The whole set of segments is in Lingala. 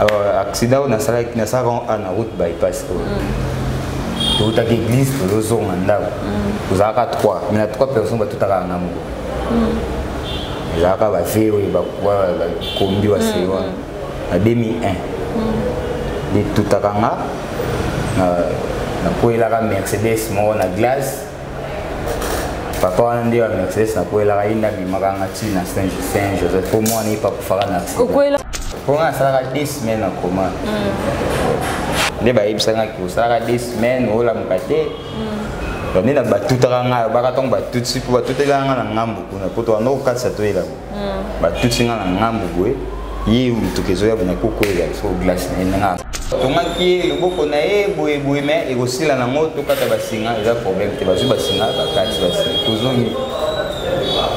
euh, accident oyo nasalaki nasalaka ngo ana route bypass oyo mm. toutaki église tozozonga ndako mm. tozalaka trois mais na trois personnes batutaka na moko mm. ezalaka bave oyo bakombi basei wana na 2001 etutaka nga nakwelaka mercedes moko na glace papa wana nde bamexes nakwelaka ye nde abimaka nga ti na saint joseph mpo mwana ye pakufaka na mpo nga nasalaka de semaine akoma hmm. nde bayebisaka ki osalaka de semaine olamuka te hmm. nde na batutaka ngai obaka ntango batuti mpo batutelaka ngai na ngambo kuna mpo towana okatisa toyelaka hmm. batuti nga na ngambu boye ye motuka ezoya bona kokwela so glace na ye nanga tomaki ye loboko na ye boye boye me ekosila nango tokata basinga eza problème te bazwi basinga bakati basinga tozongi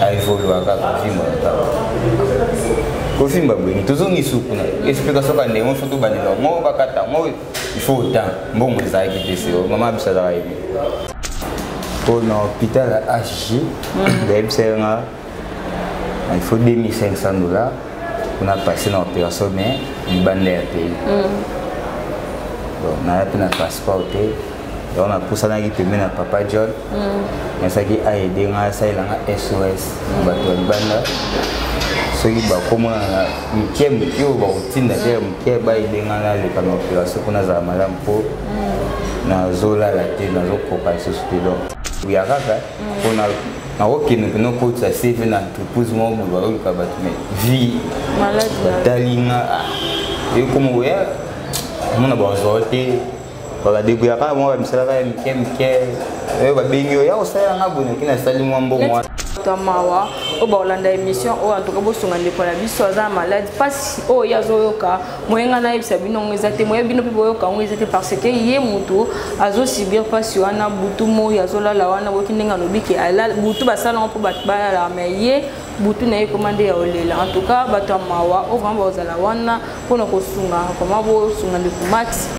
aevolua kaka vimba motaba kovimba boyini tozongi suku na explication ka ndenge mosusu tobandela yango bakata yango il faut temps mbongo ezalaki te seo mama biso azalaka yebi mpo na hôpital hg bayebisa ye nga il faut 2500 dollars on a passé dans l'opération mais il ban l'air pays bon na pe na passeport te donc na pusana ki pembe na papa John mm. na saki a aider nga sa ila nga SOS ba to banda soki ba komona na mike mike oyo ba kotinda te mike ba aider nga na le kama opération kuna za malam po mm. na zola la te na zo koka lisusu te donc ya kaka pona mm. nakokende mpena okotisa cv na entreprise moko boye bayoluka bato me vie batali nga ah, ekoma oya omona bazwa te bakadebuyaka bango bamisalaka ya mike mike oyo babengi oyo ya kosalela nga boye nakini asali mwa mbongo wana ya mawa oyo bakolanda émission oyo antuka bosunga ndeko na biso aza na malade mpasi oyo ye azoyoka moye ngai nayebisa bino yango eza te moye bino mpe boyoka yango eza te parce que ye moto azosubir mpasi wana butu moi azolala wana boki ndenge alobi ke butu basala yango mpo bato balalaka mai ye butu na ye ekoma nde ya olela en tout cas bato ya mawa oyo vraimen bakozala wana mpona kosunga koma bosunga ndeko max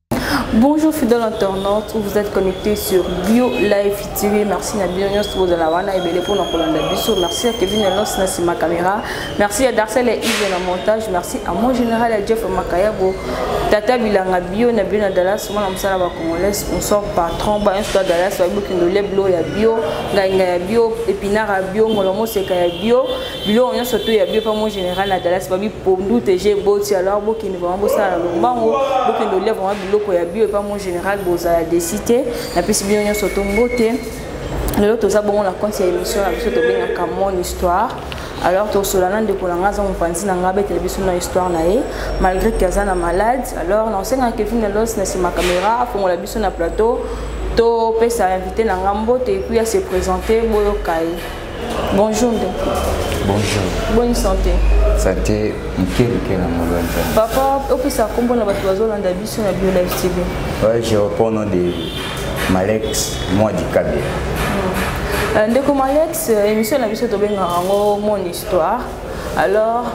Bonjour fidèle internaute, vous êtes connecté sur Bio Live TV. Merci na Bio News pour la wana et belé pour nos colonnes biso. Merci à Kevin Enos na sima caméra. Merci à Darcel et Yves na montage. Merci à mon général à Jeff Makayago. Tata Bilanga Bio na Bio na Dallas, moi na msala ba congolais, sponsor patron ba un soit Dallas, ba bokindo leblo ya Bio, ngainga ya Bio, epinara Bio, ngolomo seka ya Bio. biloko nyonso to ya bio mpe mon général na dallas babi pondu te je boti alors bokende vraimen bosala na lombango bokende olia vraimen biloko ya bio epa mon général bozala desi te napesi bino nyonso to mbote lelo toza bongo na konti ya émission na biso tobengaka mon histoire alors tosola na ndeko na ngai aza mopanzi na ngai abetela biso na histoire na ye malgré ke aza na malade alors na osengaka kevin na los na nsima caméra afongola biso na plateau topesa invité na ngai mbote epuis ya se présente boyoka ye Bonjour ndeko. Bonjour. Bonne santé. Santé moke moke na molo nzambe. Papa opesa nkombo na bato bazolanda biso na Bio Live TV. Ouais, je reprends nom de Malex Mwadi Kabia. Hmm. Euh, ndeko Malex, euh, émission na biso tobengaka yango mon histoire. alors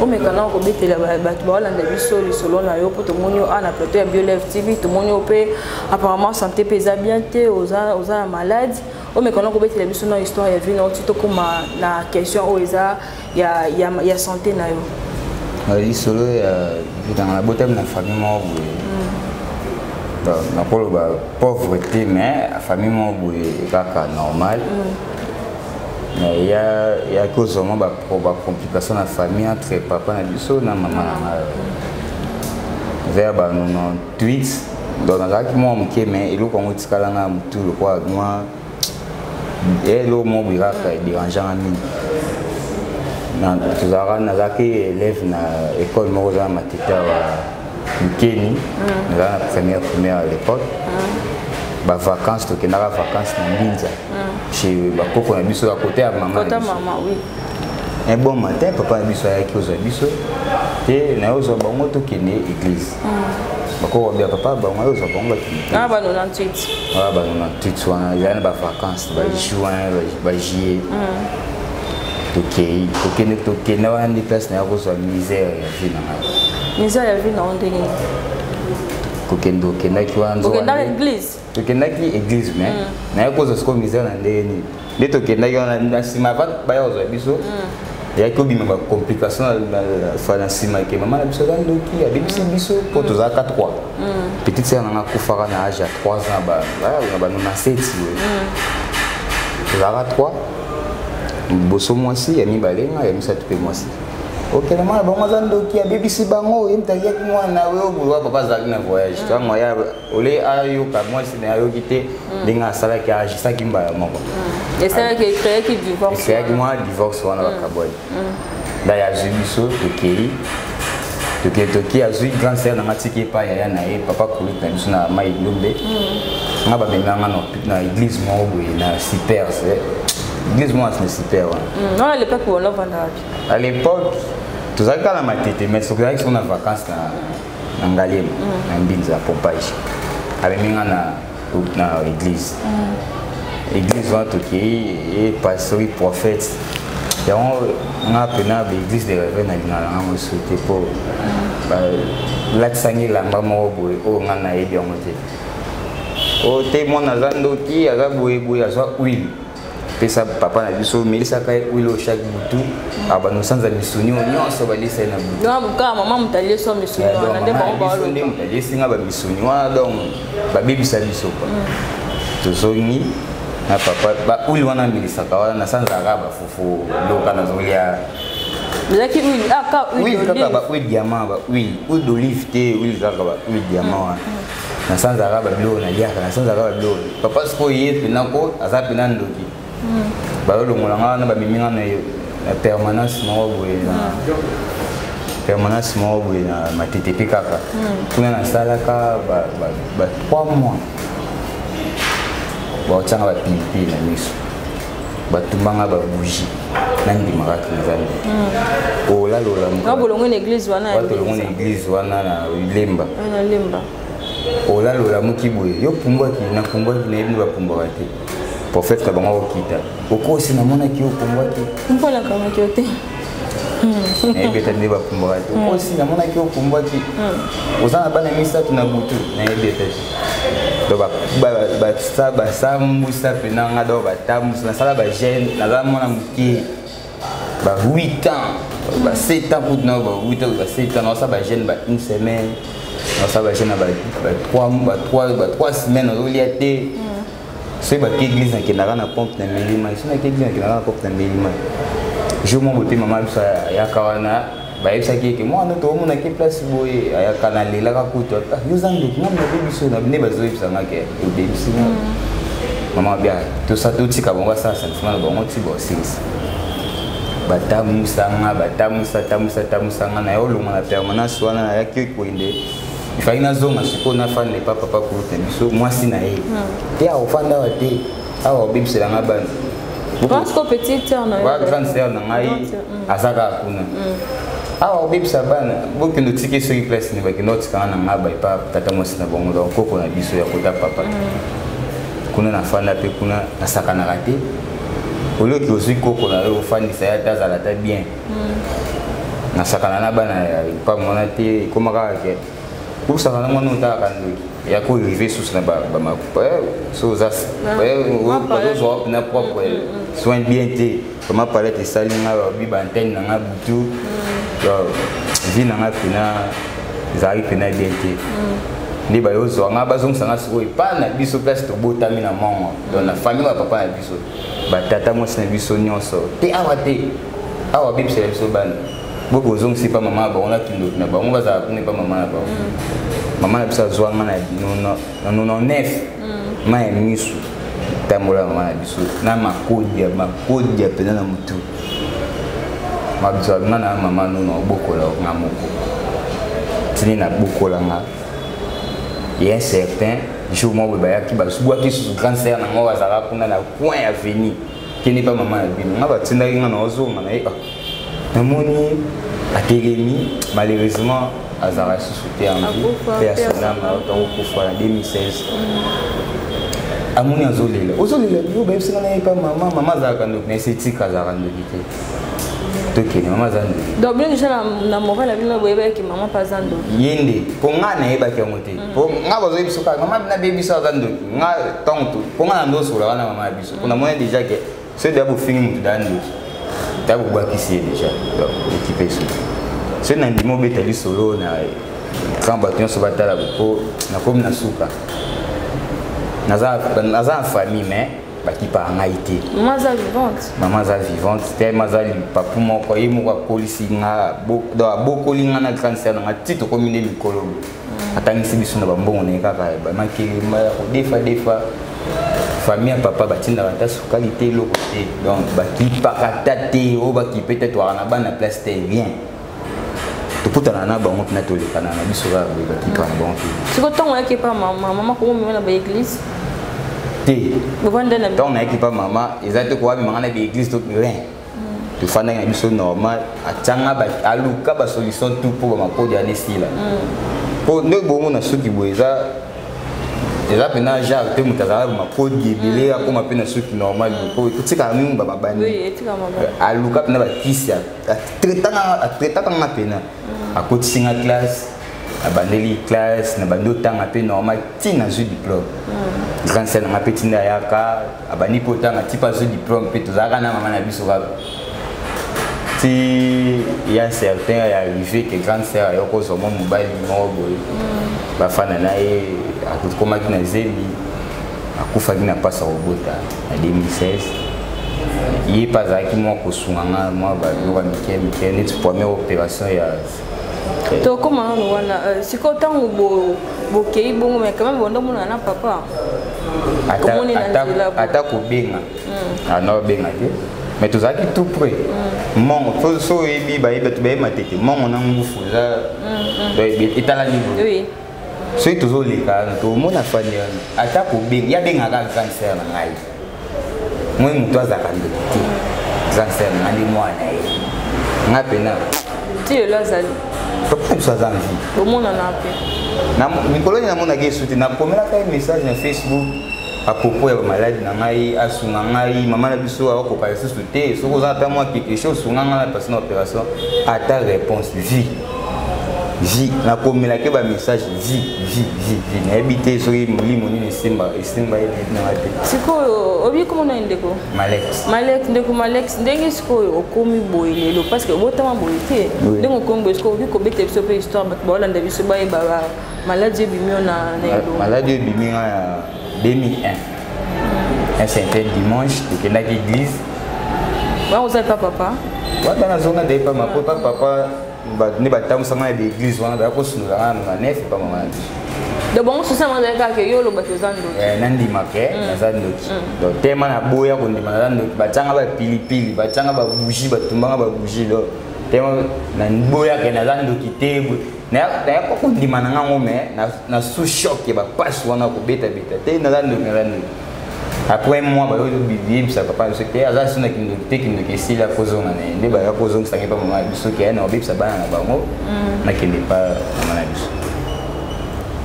omeka nao kobetela bato baolanda biso lisolo na yo mpo tomoni yo awa na plateau ya bioleve tv tomoni yo mpe apparemment santé mpe eza bien te oza na malade omekana kobetela biso na histoire ya vie na yo ti tokóma na question oyo eza ya, ya, ya santé na yo lisolo ya vitanga nabotami na famille moko boye mm. nakoloba pauvre te mais famille moko boye kaka normal mm. mais ya kozwa mwa bacomplication na famille entre papa na biso na mama na ngai mm. vers ba 90 tweets donc nazalaki mwa moke mais eloko yango etikala nga motu lokola mwa eloko moko boyaka ederangeanga mingi tozalaka nazalaki élève na école moko oza na matete awa mokeni nazala na première primaire à l'époque bavacances tokendaka vacances na mbinza chez bakoko na biso ya kote ya mama un bon matin papa na biso ayaki ozwa biso te naye ozwa bango tokende église mm. bakokobia papa bango aye ozwa bango bakendebana bano na ntut wana ezali na bavacance bajuin bajuillet tokei tokende tokende wana nde place naye kozwa misère ya vie na ngai misère ya vie na yo ndenge kokende okendaki wana tokendaki église mais mm. naye kozwa sikoyo misère na ndenge nini nde tokendaki wana na nsima avant baya kozwa biso mm. eyaki obima bacomplication na nsima ke mama na biso aza ndoki abebisi mm. biso mpo tozalaka 3 petite sere nanga akufaka na age ya 3 ans na bano na seti boye tozalaka 3 liboso mwasi ya mibale nga ya misato mpe mwasi okende mwana bango aza ndoki abebisi bango ye moto aliyaki mwana na yo papa azalaki na voyage tango ya ole ayoka mwasi na ayoki te hmm. ndenge asalaki agisaki mbala moko hmm. esalaki ekreaki divorce ekreaki mwa divorce wana bakabwani nda yazwi biso tokei tokei toki azwi grand sere nanga tiki epai yaya na ye papa kolute na biso na mai lombe nga bamemanga na eglise moko boye na supers eh. église moko na super wana à l'époque tozalaki kala matete mais soki ozalaki soko na vacance na na ngaliema mm. na mbinza pompage amemi nga na, na église mm. église wana tokei ye pastori prophète yango nga mpena baeglise de reve na lingala nga mosusu te mpo balatisanga elamba moko boye oyo nga nayebi yango te oyo te mwana aza ndoki aza boyeboye azwa huile pesa papa na biso omelisaka ye wilo chaque butu abanda osanza misuni oyo nyonso balisa ye na butuka mama moto aliesi misuni wana nde bango baolo nde moto aliesi nga bamisuni wana donc babebisa biso kwa mm. tozongi na papa bauli wana amelisaka wana nasanzaka bafufu loka nazolia ezalaki huile ah, aka huile kaka ba huile diamant ba huile huile d'olive te huile kaka ba huile diamant wana mm. na sanza kaka babiloko naliaka na sanza kaka babiloko papa sikoyo ye mpena ko aza mpena ndoki hmm. balolongola nga wana bamemi nga na permanence moko boye na hmm. permanence moko boye na matete mpe kaka hmm. kuna nasalaka ba 3 mois baotyanga bapilipili na miso batumba nga babuji nandimaka te nzambe hmm. olalolambolongo na eglise wana batolongo na eglise wana na lemba olalolamuki boye yo pumbwaki napumbwaki nayebi nde bapumbwaka te prophète na bango akokita okosi namonaki yo pumbwaki mpo nakamaki yo te nayebi ete nde bakumbaka te okosi namonaki okumbwaki oza na bana misato na butu nayebi ete basambwisa mpena nga doko batambwisa nasala bagene naza mwana moke ba 8 ans ba 7 ans kutu nao ba 8 ans ba 7 ans naosa bagene ba une semaine naosa bagene na ba 3 semaine ozolia te soki baki église nakendaka na pompe na meli mai soki naki église nakendaka na pompe na meli mai jour moko te mama biso ayaka wana bayebisaki ete mwana toomonaki place boye ayaka na lelaka kutu yoza ndoki mwana nabe biso nde bazoyebisa nga ke obebisi nga mama bia tosa totika bango asala sentiment na bango ti bosilisa batamusa nga batamusa tamusa tamusa nga naye olonga na permanence wana nayaki koyende ifaki nazonga sikoyo nafanda epa papa kurute biso mwasi na ye hmm. te akofanda awa te awa obebisela nga bana grande sœur na ngai hmm. aza kaka kuna hmm. awa obebisa bana bokende otiki soki place nini bakende otikanga na ngaba epa tata mwasi na bango donc koko na biso ya kota papa kuna nafanda mpe kuna nasakanaka te olioki ozwi koko na yo ofandisa ye ata azala ata bien hmm. nasakana na bana ya lopango wana te ekoma kaka ke kosakana mwana otalaka ndoki ya korive susu na bamakupa eh, so oza ah. eh, ozozwa wapi na propre hmm, hmm, soin bien te vraimen palete esali nga babi baantene na nga butu vi na nga pena ezalaki pena bien te nde baye ozwa nga bazongisa nga sikoyo epai na biso place tobotami na mongo don na famille ya papa na biso batata mwasi na biso nyonso te awa te awa bebisela biso bana bo bozongisi mpa mama na bango na kindoki na bango bazala kuna mpa mama na bango mm. mama na biso azwa nga na 99 mm. ma ya misu tambola mama na biso na makodia makodia mpenza na motu mabizwa nga na mama nono obokola nga moko tini nabokola nga ye certain jour moko boye bayaki bazwaki susu grande sœur na ngai azalaka kuna na coin ya veni kende mpa mama ya bino ngai batindaki ngai na ozonga na ye ah, namoni atelemi malheureusement azalaka susu te anvi mpe asonama otangokufa na 2016 amoni azolela ozolela yo bayebisaka na ye mpa mama mama azalaka ndoki na ese etika azalaka ndoki te tokende mama aza ndoki donc bino deja na moral na bino boyebaki mama mpe aza ndoki ye nde mpo ngai nayebaki yango te mm. po nga bazo yebiso kaka mama bina be biso aza ndoki nga ntango tu po nga na ndosola wana mama ya biso po namoni déjà ke soki deya bofingi motu deya ndoki deya bobwakisi ye déjà ekipe esuki soki na ndimi obeta lisolo na ntango bato nyonso batala po nakomi na suka naza na famille mais bakipaka ngai te mama aza vivante mama aza vivante tellement aza lipapu moko ye moko akolisi nga abokoli nga na grande sere na nga ti tokomi nde mikolo atangisi biso na bambongo na ye kaka bamakelema ya kodefa defa famille ya papa batindaka ata sukali te eloko te donc bakipaka ata te oyo bakipe te twaka na bana place te bien tokutana na bango mpena tolekana na biso kaka boye bakipa na bango te siko ntango oyaki epa mama mama komomema na baeglise te ntango nayaki epa mama eza te kowa mimanga na baeglise to rien tofandaki na biso normal atianga aluka basolution tout mpo bamakodi wana esila mpo mm. nde bongo na suki boye eza eza mpena genre mpe moto azalaka makodi ebele mm. akóma mpe na suki normal mpo mm. ekotikaka mingi bababani aluka mpena bakisi atraitaka nga mpena akotisi nga classe nabandeli classe nabandi otanga mpe normal ti nazwi diplome mm. grande sel nanga mpe tinda ayaka abandi mpe otanga ti mpe azwi diplome mpe tozalaka na mama na biso kaka ti ya certain ya arrivé ke grande sœur ayoko ozwa mwa mobali moko boye mm. bafana na ye akomaki na zemi akufaki na mpasi ya kobota na 2016 ye mpe azalaki mwa kosunga nga mwa babiloko ya mike mike neti première opération ya tokoma nano wana euh, sikoyo ntango bokei bongo me kama bonda omonana na papa ata kobenga hmm. ana ah, obenga te me tozalaki tout près hmm. mongo so oyebi bayebi bato bayema te te mongo na ngufu eza hmm, etala niveau soki tozoleka wana tomona fani wana ata kobenga ye abengaka grande sœur na ngai moi moto azalaka ndoki te grande sœur na ngai nde mwana ye ngai mpena ti lelo azali papa biso aza nvi bomonana mpe mikolo nini namonaki esu te nakomelaka ye message na facebook akopo ya bamaladi na ngai asunga ngai mama na biso akokoka lisusu te soki oza ata mwa quelque chose sunga ngai na pasi na opération ata réponse vie vi nakomelake bamessage vi vi vi vi nayebi te soki molimo nini esimba esimba ye nayebi nanga te sikoyo obi komona ye ndeko malek malek ndeko malek ndenge sikoyo okomi boye lelo parce que obotama boye te ndenge okomi boye sikoyo obi kobeta biso mpe histoire bato baolanda biso bayeba maladi ebimi yo na elongo maladi ebimi nga 2001 un certain dimanche tokendaki église bakozala epa papa wana nazonga nde epa mako epa papa nde batambusanga na baeglise wana baya kosundola nga na manef epa mama na biso donc bango susi yango azali kaka yo oloba te oza ndoki eh, nandima ke mm. naza ndoki mm. donc tema naboya kondima naza ndoki batyanga bapilipili batyanga babougie batumbanga babougie donc tema naboyaka naza ndoki te naya koko ndima na ngango me na sous choc ya bapasi wana kobetabeta te naza ndoki naza ndoki après moi bayebisa papa biso te aza so na kindoki te kindoki esili akozonga na ye nde baya kozongisaki mpa mama na biso ke na kobebisa bana na bango mm. nakende mpa mama na biso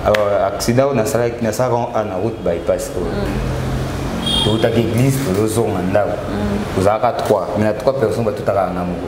alors accident oyo nasalaki nasalaka ngo a na route bypass oyo mm. toutaki église tozozonga ndako mm. tozalaka 3 mais na 3 personne batutaka na moko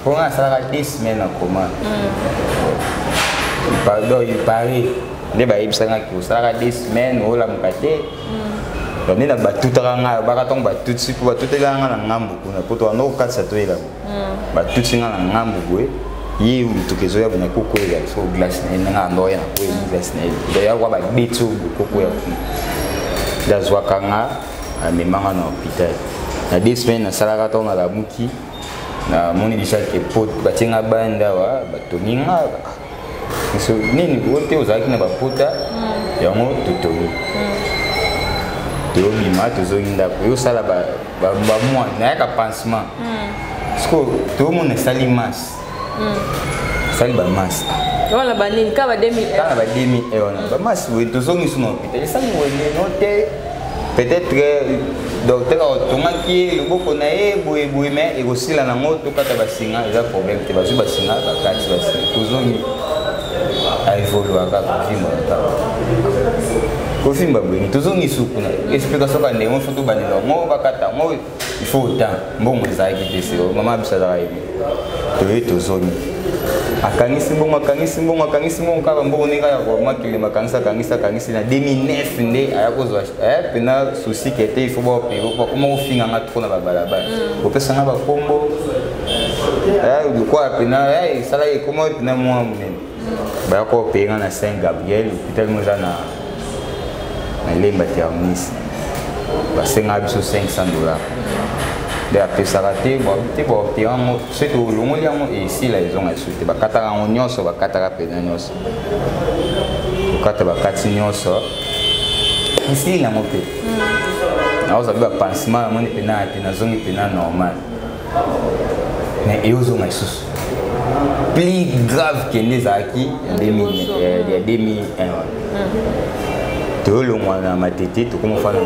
mpo ngai nasalaka deux semaine na koma mm. pardon il paris nde bayebisangaki osalaka deux semaine olamuka te mm. nde na batutaka ngai alobaka ntango batuti mpo batutelaka ngai na ngambo kuna mpo tokanda kokatisa toyelamo mm. batuti ngai na ngambo boye ye motuka ezoya bona kokwela so glace na ye nanga andoya na koye glace na ye doyakwa babeti oyo bokokwela kuna nde azwaka nga amemanga na hôpital na deux semaine nasalaka ntango nalamuki namoni deja ke pot batie nga bande awa batongi nga biso nini oyo te ozalaki na bapota hmm. yango totongi hmm. tobima tozongi ndako yosala bamwa nayaka pansement hmm. sikoyo tomona esali masse asali bamasi wana banini kaka ba 2000 kaka ba 2000 wana bamasi boye tozongisi na hôpital esali wende no te peut-être euh, docteur atongaki ye loboko na ye boye boye mai ekosila nango tokata basinga eza problème te bazwi basinga bakati basinga tozongi aevolua kaka vimo na kaka kosimba boye tozongi suku na explication ka ndenge mosusu tobandela yango bakata yango il faut autant mbongo ezalaki te seo mama biso azalaka ye toye tozongi akangisi mbongo akangisi mbongo akangisi mbongo kaka mbongo ndenge ya koma kilema akangisi akangisi akangisi na 2009 nde aya kozwa eh, pena souci ke te ifo baopeye bakoma kofinga nga trop na babalabala mm. kopesa nga bakombo eh, lokola pena eh, esalaki ekoma pena mwa monene baya ko paye nga na saint gabriel hôpital ngo eza na na lemba terminus basengaka biso 500 dollars nde apesaka te te baote yango soki olongoli yango esila ezonga lisusu te bakataka yango nyonso bakataka mpenza nyonso kokata bakati nyonso esili yango mpe naoza mpe bapansement namoni mpenaa te nazongi mpenaa normal mais eyozonga lisusu plus grave kende ezalaki ya 2001 euh, hmm. toyolongwa na matete tokoma fana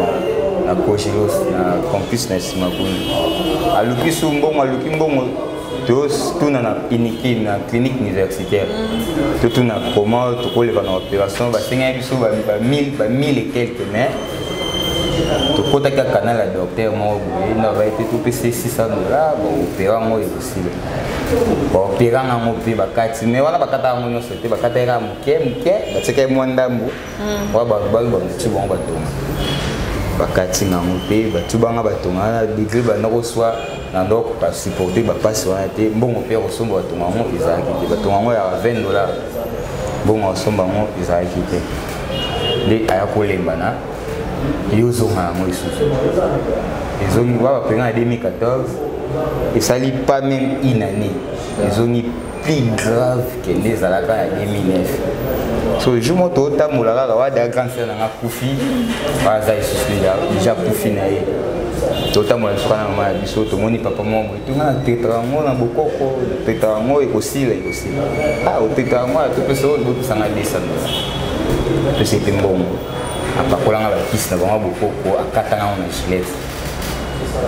na cogelos na campus na nsima kuna aluki su mbongo aluki mbongo totuna na iniki na clinique universitaire hmm. totuna koma tokoleka na opération basengaki biso ba 1000 et quelques mais tokotaki ya canal ya docteur moko boye nde abai te topesa ye 600 dollars baopera yango ekosila baopera yango mpe bakati mai wana bakata yango nyonso te bakata ye kaka moke moke batikaki mwa ndambo hmm. oyo balobaki bamotu bango batonga bakati yango mpe batu banga batonga wana degre banda koswa na ndoko basupporte bapasi wana te mbongo mpe ya kosomba batonga yango ezalaki te batonga yango ya 20 dollars mbongo ya kosomba yango ezalaki te nde aya kolemba na yo ozonga yango lisusu ezongi wa bapenga na 2014 esali pas même une année ezongi plus grave ke nde ezalaka ya 2009 so jour mo tootambola kaka wada grande sœur nanga kufi aza lisusu deja kufi na ye totambola lisuka na mama ya biso tomoni papa mwa nga na teta yango na bokoko na teta yango ekosila ekosila a ah, oteta yango ato mpe soo libopesanga lisano pesa ete mbongo apakolanga bakisi na bango bokoko akatanga yango na gilete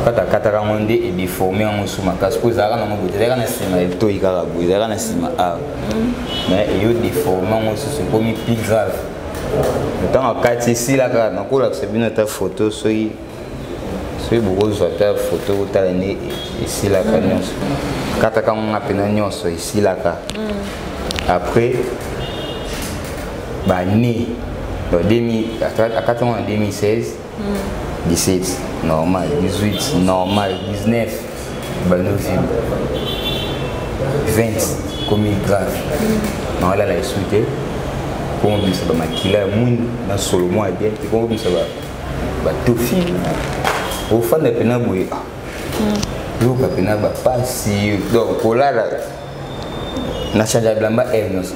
kaka akataka yango nde edeforme yango su makasi mpo ezalaka nango boye ezalaka na nsima etoi kaka boye ezalaka na nsima awa mais eyo deforme yango susu ekomi plus grave ntango akati esila kaka nakolakisa bino ata foto soki soki bokozwa ata foto kotala nde esilaka nyonso kataka ngonga mpena nyonso esilaka mm. après bane akati yango na 2016 17 mm. normal 18 normal 19 banovi 20 komi grave mm. naolala esu te komobimisa bamakila ya mwindu na solo mwa ya bien te komobimisa ba tofi ofanda pena boye yoka hmm. pena bapasi donc kolala na change bilamba aire eh, nyonso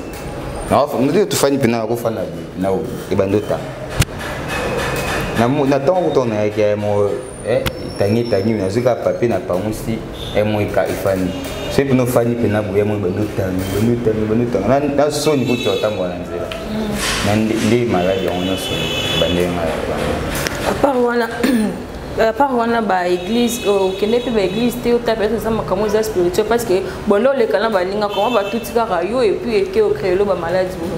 ndio tofandi pena nakofanda boye na ebandi otanga na ntango kuta nayaki ya mo etangi etangi nazwi kaka papier na pangusi emoika efani soki mpena ofani mpena boya moi bandotami bandotami bandotanga na soni kutu otambola na nzela mm. nde maladi yango nyonso bandenge ngai apart wana apart wana baeglise okende mpe baeglise te ota peut-être eza makambo eza spirituel parce que bonde oleka na baninga koma batuti kaka yo epuis eke ocreelo bamaladi bono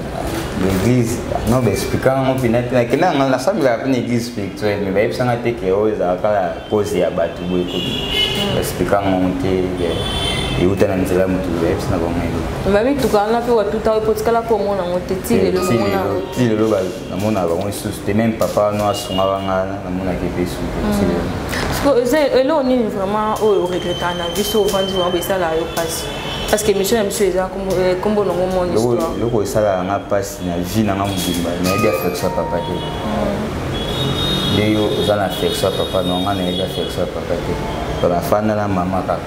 l'église non baexplika yango mpena te nakenda yanga nasambelaka mpe na église spirituelle mais bayebisanga te ke oyo ezalaka pose ya bato boye ekoki explika ngongo te euta na nzela motu oyebisi na bango yango bamituka wana mpe watuta oyo mpo tikala mpo omona yango te ti lelo ti lelo namonaka bango lisusu te meme papa wana asungaka nga namonaki mpe su te ti lelo hmm. eloko nini vraiment oyo oregretaka na biso ovandi wango esala yo mpasi parce que émission ya biso eza nkombo nango mon histoire eloko esalaka nga mpasi na vie na nga mobimba nayebi affection ya papa te nde yo oza na affection ya papa no nga nayebi affection ya papa te tona afanda na mama kaka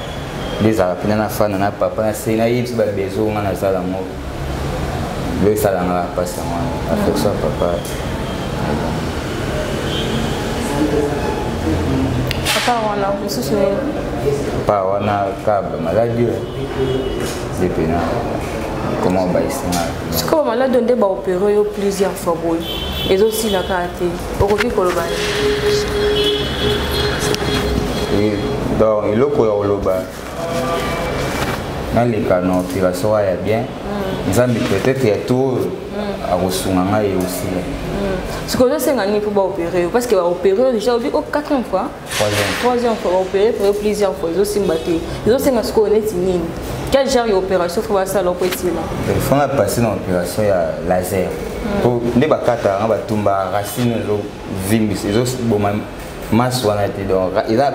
nde ezalaka mpena nafanda na papa nase nayebisi babezo nga naza yango nde esala nga bapasi yango wana affection ya papa papa wana mosusu papa wana kaba maladi oyo nde mpena koma obayisingaa sikoyo malado nde baopere yo plusieurs fois boye ezosila kaka te okoki koloba donc eloko ya koloba naleka na operation ya bien mm. nzambe peut-être ya to oyo mm. akosunga ngai osila mm. sikoyo ozosenga nini mpo baopere yo parce que baopere yo déjà obi o 4 fois troisième fois baopere frere plusieurs fois ezosimba te ezosenga sikoyo neti nini quel genre ya opération fo basala oko esila fanga passe na opération ya laser hmm. po nde bakata yanga batumba racine ezovimbisa ezoboma masse wana te donc eza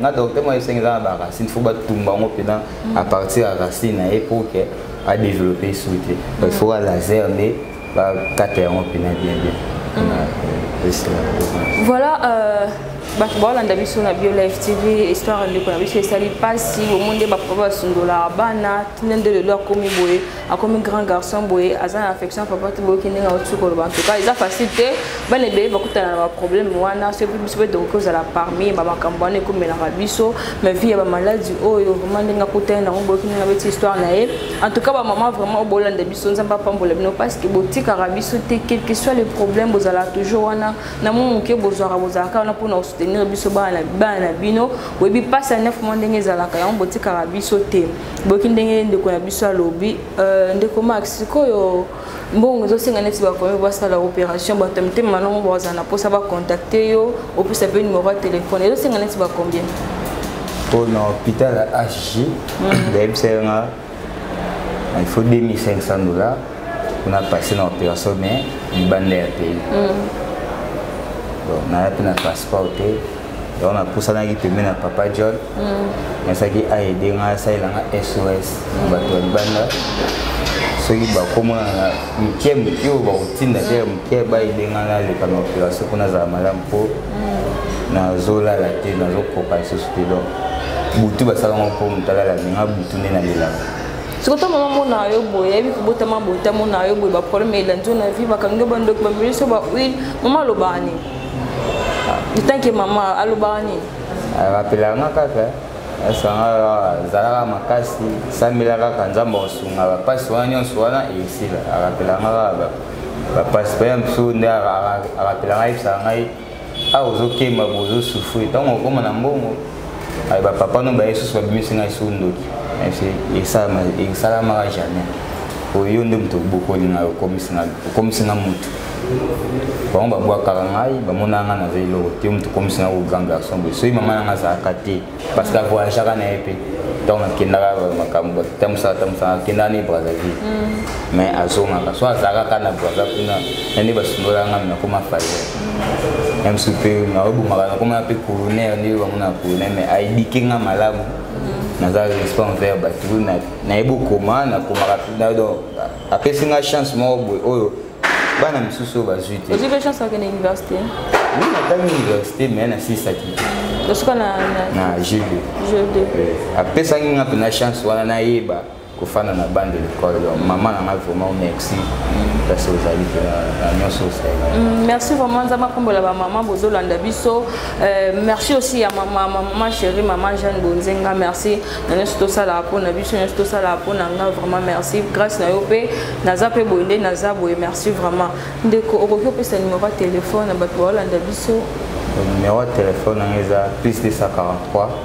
na docteur moko esengi eza na baracine fo batumba yango mpenza hmm. à partir ya racine na ye po ke adéveloppe esu te il faut ya laser nde bakata yango mpena bien bien mm. voilà euh, bato baolanda biso na bio live tv histoire ya ndeko na biso esali mpasi bomoni nde bapapa basundolaka bana tine nde lelo akomi boye akomi grand garçon boye aza na affection papa te boyoki ndenge auti koloba antuka eza facile te bana ebele bakutana na baproblème wana soki biso mpe tokoki kozala parmi bamakambo wana ekomelaka biso ma vie ya bamaladi oyo vraimen ndenge akutani nango boyoki ndenge abeti histoire na ye En tout cas, ba maman vraiment bolanda biso nzamba pambola bino parce que botikaka biso te quel que soit le problème bozala toujours wana na mo moke bozwaka bozalaka wana mpona kosoutenir biso bana na bino oyebi mpasi ya neuf mois ndenge ezalaka yango botikaka biso te boyoki ndenge ndeko na biso alobi euh, ndeko max sikoyo mbongo ezosenga neti bakomi basala opération bato ya mitema malongo bazala na mposa bacontacte yo opesa mpe numero ya telefone ezosenga neti bacombien mpo na hôpital ya hg mm. bayebisa yo nga il faut 2500 dollars mpona passe na opération mais libanda ya pays mm. naza mpe na transport te donc napusanaki pembe na papa john nasaki mm. aide ngai asalela ngai sos na bato ya libanda soki bakomona na mike moke oyo bakotinda te ya moke baide ngai naleka na operation mpo nazala malamu mpo mm. nazolala te nazokoka lisusu te donc butu basala ngo mpo moto alala minga butu nde nalelaka soki ata mama mona yo boye ayebi kobotama boye ta mona yo boye baproblème elandi yo na vie bakangi yo bandoki bameli so bahuile mama alobani itanke mama alobaka nini eh, bapelaka nga kaka asanga eh. zalaka makasi sambela kaka nzambe akosunga bapasi wana nyonso wana esila arapelaka nga kaka bapasi mpe ya mosusu nde arapelaka ngai ebisaka ngai awa ozokemba bozosufri ntango okoma na mbongo aye bapapa no baye susu babimisi ngai so ndoki esalamaka jamais oyo nde moto obokoli ngai okomisi ngai motu bango babwakaka ngai bamonaka ngai naza eloko te moto okomisi ngai ko grand garçon boye soki mama nanga azalaka te parce que avoyageaka na ye mpe ntango nakendaka makambo tamosaka tamosaka akendaka ne brazzaville mm. mais azongaka so azalaka kaka na brazza kuna na nde basundolaka ngai nakoma faye meme soki mpe naobomaka nakomana mpe coroner nde bango na coroner mais aedike nga malamu mm. naza respect envers bato nayebi okoma nakomaka donc apesi nga chance moko boye oyo bana mosusu oyo bazwi te ozwi mpe chance akende université oui natangi université mais nasisaki te na jeu de apesaki nga mpe na chance wana nayeba kofanda na bande de l'école donc maman na ngai vraiment merci place ozali mpe na nyonso osalela mm, merci vraiment nzambe akombola bamama bozolanda biso euh, merci aussi ya mama mama chéri mama jeanne bonzenga merci na nyonso tosalaka mpo na biso nyonso tosalaka mpo na ngai vraiment merci grâce na yo mpe naza mpe boye nde naza boye merci vraiment ndeko okoki opesa numero ya telefone na bato baolanda biso numero ya telefone yango eza plus 243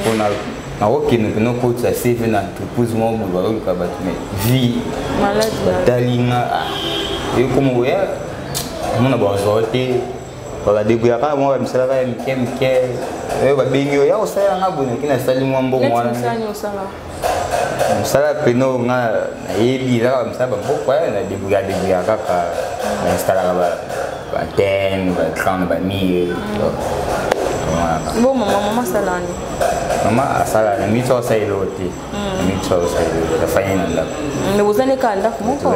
mpona nakokende mpena okotisa cv na entreprise moko boye bakoluka bato me vie batali nga ah, ekoma oya mona bazwa te bakadebouya kaka mwa bamisala kaka ya mike mike oyo babengi oyo ya kosala nga boye noki nasali mwa mbongo wana mosala pene oyo nga nayebi eza kaka mosala bamboka eh, na debuya debuya kaka na instalaka baantenne baecran bamire bo mama mama asalani mama asala na mingi soko asala eloko te na mingi soko asala eloko te afandi na ndako mais bozali kaka ndako moko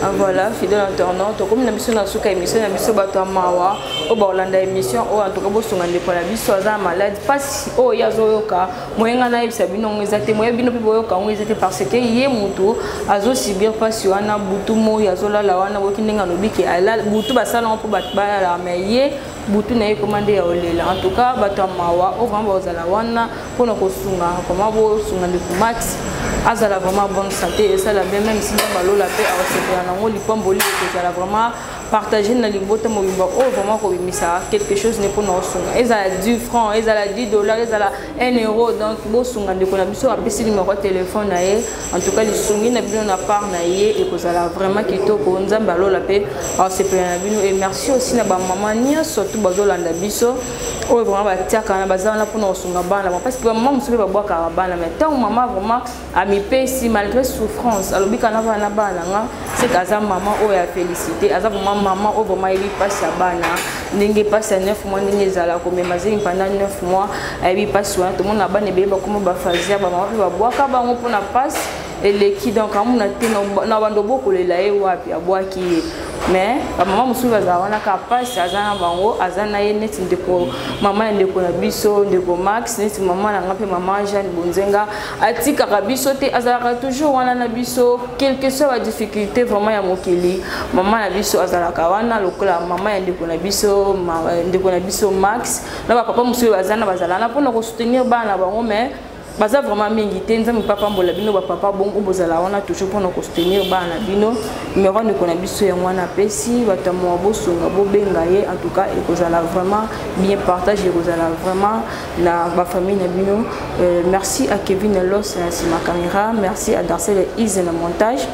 ah, voilà fidèle internaute tokomi na biso na suka émission na biso bato ya mawa oyo bakolanda émission oyo antuka bosunga ndeko na biso aza malade mpasi oyo ye azoyoka moye ngai nayebisa bino yango eza te moye bino mpe boyoka yango eza te parce que ye moto azosubir mpasi wana butu moi azolala wana boyoki ndenge alobi ke butu basala yango mpo bato balalaka mai ye butu na ye ekoma nde ya olela en tout cas bato ya mawa oyo vraimen bakozala wana mpo na kosunga vraimen bosunga ndeko mati azala vraiment bonne santé esala bien meme si ndenge balola mpe akosepela nango lipamboli ekozala vraiment partager na libota mobimba oyo vraiment kobimisaka quelque chose nde mpona osunga ezala 10 franc ezala 10 dollar ezala 1 euro donc bosunga ndeko na biso apesi numero ya telefone na ye en tout cas lisungi na bino na part na ye ekozala vraiment kitoko nzambe alola mpe asepela na bino et merci aussi na bamama nyonso tu bazolanda biso oyo vraiment batiaka na baza wana mpona kosunga bana parce que bamama mosusu mpe babwakaka bana mais ntango mama vraiment amipesi malgré souffrance alobi kana bana na bana nga seke aza mama oyo ya félicité aza vraiment mama oyo vraiment ayebi mpasi ya bana ndenge mpasi ya 9 mois ndenge ezala komema zemi pendant 9 mois ayebi mpasi wana tomona bana ebele bakoma bafazia bamama mpe babwaka bango mpona mpasi eleki donc amona te na bando bokolela ye wapi abwaki ye mais bamama mosusu bazala wana kaka mpasi aza na bango aza na ye neti ndeko mama ya ndeko na biso ndeko max neti mama na nga mpe mama jeanne bonzenga atikaka biso te azalaka toujours wana na biso quelque soit ba difficulté vraiment ya mokili mama na biso azalaka wana lokola mama ya ndeko na biso eh, ndeko na biso max na bapapa mosusu oyo baza na bazala na mpona kosoutenir bana bango mais baza vraiment mingi te nzambe mpe apambola bino bapapa bongo bozala wana toujours mpona kosoutenir bana na bino numero ya ndeko na biso yango wana apesi bato ya mowa bosunga bobenga ye en tout cas ekozala vraiment bien partage ekozala vraiment na ba famille na bino euh, merci à Kevin Los na sima camera merci à Darcel et Ise na montage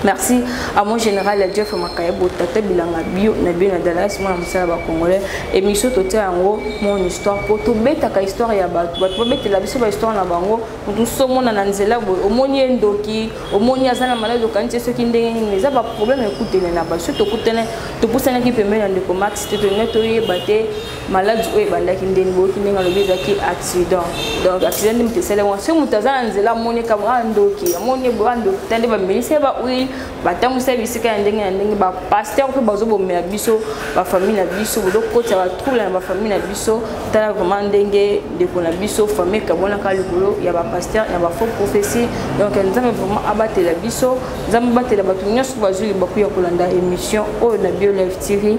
merci à mon général ya jeff makayebo tata bilanga bio na bio na dallas mwana mosala bacongolais émission totia yango mon histoire mpo tobetaka histoire ya bato bato babetela biso bahistoire na bango moto mosusu omona na nzela boye omoni ye ndoki omoni aza na maladi okanisi ye soki ndenge nini eza baproblème ekutene na bato soki tokutene topusanaki pembeni ya ndeko max te tolingai toyeba te maladi oyo ebandaki ndeni boyoki ndenge alobi ezalaki accident donc accident nde moto esali yango soki moto aza na nzela amoni kama a ah, ndoki amoni ye boa ndoki ta nde bamelisi ye bahuile batambwisa ye bisika ya ndenge na ndenge bapaster mpe bazobomela biso bafamille na biso bozokotisa batrouble na bafamille na biso tala vraiment ndenge ndeko na biso famille kabwanaka likolo ya bapaster na bafaux prophetie donc nzambe vraiment abatela biso nzambe abatela bato nyonso bazwi libaku ya kolanda émission oyo na bio live tv